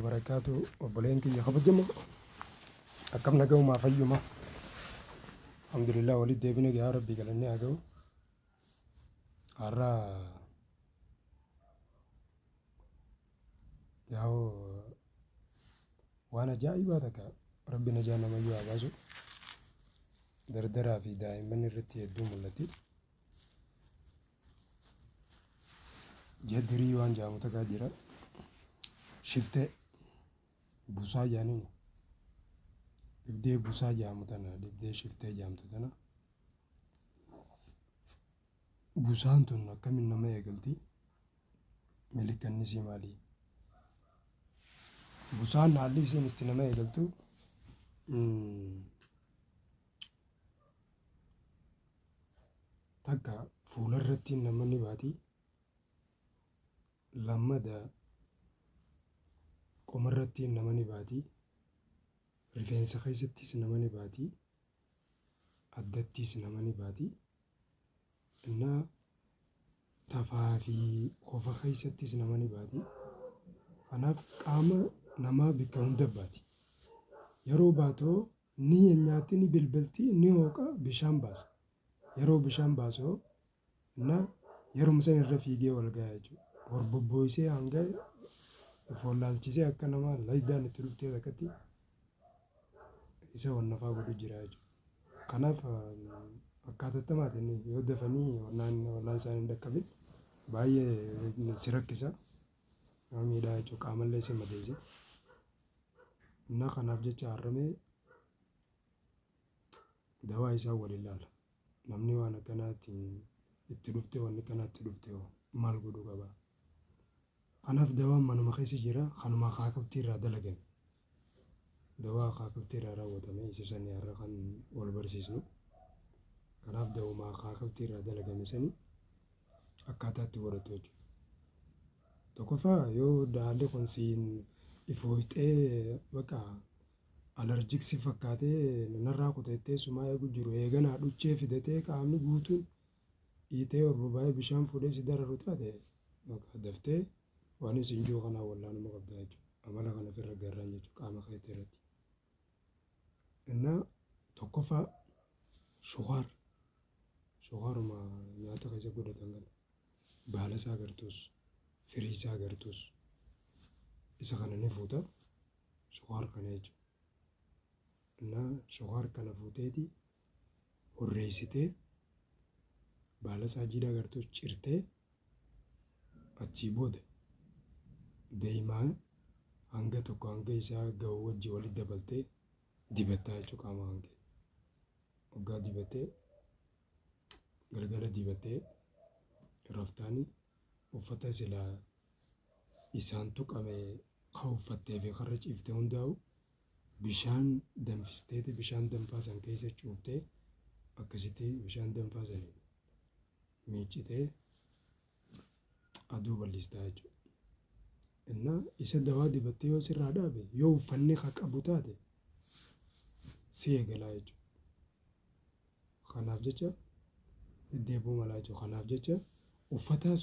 barakaatu obboleen kiyya kabajama akkam nagaumaa fayyuma alhamdulillah walitti deebine gaa rabbii galannee haa ga'u har'a yaa'u waan ajaa'ibaa takka rabbi najaa namayyuu haa baasu dardaraa fi daa'imman irratti hedduu mul'atti Jadirii waan jaamu takaa jira. Shiftee busaa jaaniin dhibdee busaa jaamu tana dhibdee shiftee jaamtu tana. Busaan tun akkamiin nama eegalti? Milikanni isii maali? Busaan haalli isiin itti nama eegaltu takka fuula irratti nama ni baati lammada qoma irratti nama ni baati rifeensa keessattis nama ni baati addattis nama ni baati innaa tafaa fi kofa keessattis nama ni baati kanaaf qaama namaa bakka hunda baati yeroo baatu Ni nyaatti, ni bilbilti, ni hooqa, bishaan baasa. Yeroo bishaan baasu hoo na yeruma san irra fiigee ol gaya jechuudha. Hor bobbooyisee hanga of wallaalchisee akka nama laydaan itti dhuftee takkatti isa wannafaa godhu jira jechuudha. Kanaaf akkaatattamaati yoo dafanii wannaan wallaan isaanii hin dhaqqabin baay'ee si rakkisa. nama miidhaa jechuudha qaamallee si madeessa. Inna kanaaf jecha har'amee dawaa isaa waliin laala. Namni waan akkanaatiin itti dhufte waan akkanaatti dhufte hoo maal godhuu qaba? Kanaaf dawaan manuma keessa jira kanuma kaakiltii irraa dalagan. dawaa akaakiltii irraa raawwatame isa sani har'a kan wal barsiisnu. Kanaaf dawuma akaakiltii irraa dalagame sani akkaataa itti godhatu jechuudha. Tokkoffaa yoo daalli kun siin ifooyxee baqa alarjik si fakkaatee narraa kuteettee sumaa eegu jiru eeganaa dhuchee fidatee qaamni guutuun dhiitee urrubaa'ee bishaan fuudhee si dararu taate daftee Waan isin ji'u kanaan wallaanuma qabdaa jechuudha. Amala kana ofirra garraan jechuudha qaama keetii irratti. Innaa tokkoffaa sukaar sukaaruma nyaata keessa godhatan kana baala isaa agartuus firii isaa agartuus isa kana ni fuuta sukaar kana jechuudha. Innaa sukaar kana fuuteeti hurreessitee baala isaa jiidhaa gartuu cirtee achii booda daa'imaa hanga tokko hanga isaa ga'u wajji walitti dabaltee dibattaa jechuudha qaama hangee. Waggaa dibattee galgala dibattee raftaanii uffata silaa isaan tuqame kan uffattee fi karra ciifte hundaa'u Bishaan danfisteeti bishaan danfaa san keessa cuuftee akkasitti bishaan danfaa saniin miiccitee aduu bal'istaa jechuudha. Innaa isa dawaa dibattee yoo sirraa dhaabe yoo uffanni haa qabu taate si eegalaa jechuudha. Kanaaf jecha deddeebuu malaa jechuudha. Kanaaf jecha uffataas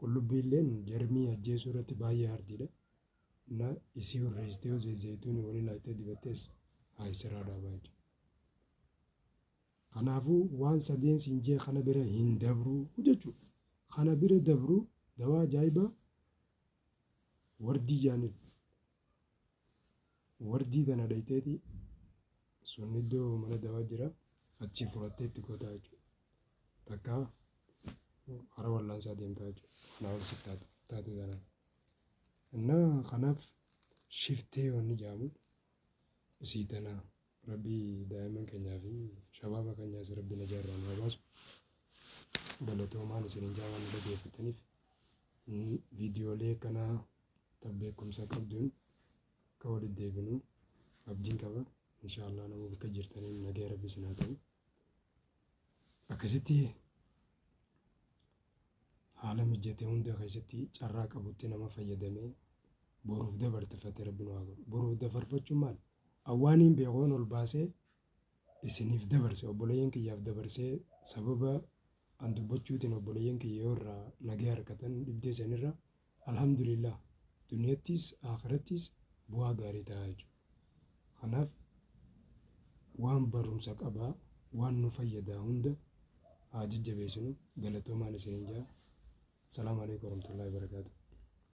Qullubbiilleen jarmii ajjeesuu irratti baay'ee hardiidha እና isii hurreessitee yoo zayzayituuni wali laayxee dibattees haa issiraa dhaabaa jechuudha. Kanaafuu waan sadeen siin jee kana bira hin dabruu jechuudha. Kana bira dabruu dawaa ajaa'ibaa wardii jaaniin Warjii kana dhayxeeti sun iddoo mana dawaa jira achii fudhattee itti gootaa jechuudha. Takka hara wallaansaa deemtaa jechuudha. Kanaa ol sitti taatu taatee taanaan. Innaa kanaaf shiftee wanni jedhamu isii tanaa. Rabbii daaiman kenyaa fi shababa kenyas rabbi naja irraa nu haa baasu. Galatoomaan isinin jaa waan nu dhageeffataniif. Viidiyoolee akkanaa tan beekumsa qabduun akka walitti deebinu abdiin qaba. Inshaallah nama bakka jirtaniin nagaya rabbi isin haa ta'u. Akkasitti haala mijjate hunda keessatti carraa qabutti nama fayyadamee boruuf dabartefate rabbi nu haa godhu. Boruuf dabarfachuun maal? Awwaaniin beekoon ol baasee isiniif dabarse obboleeyyan kiyyaaf dabarsee sababa an dubbachuutiin obboleeyyan kiyya yoo irraa nagee harkatan dhibdee sanirra Alhamdulillah duniyattis aakhirattis bu'aa gaarii ta'a jechuudha. Kanaaf waan barumsa qaba waan nu fayyadaa hunda haa jajjabeessinu galatoomaan isinin ja'a. Assalaamu Aleykum Warahmatullahi Wabarakatuh.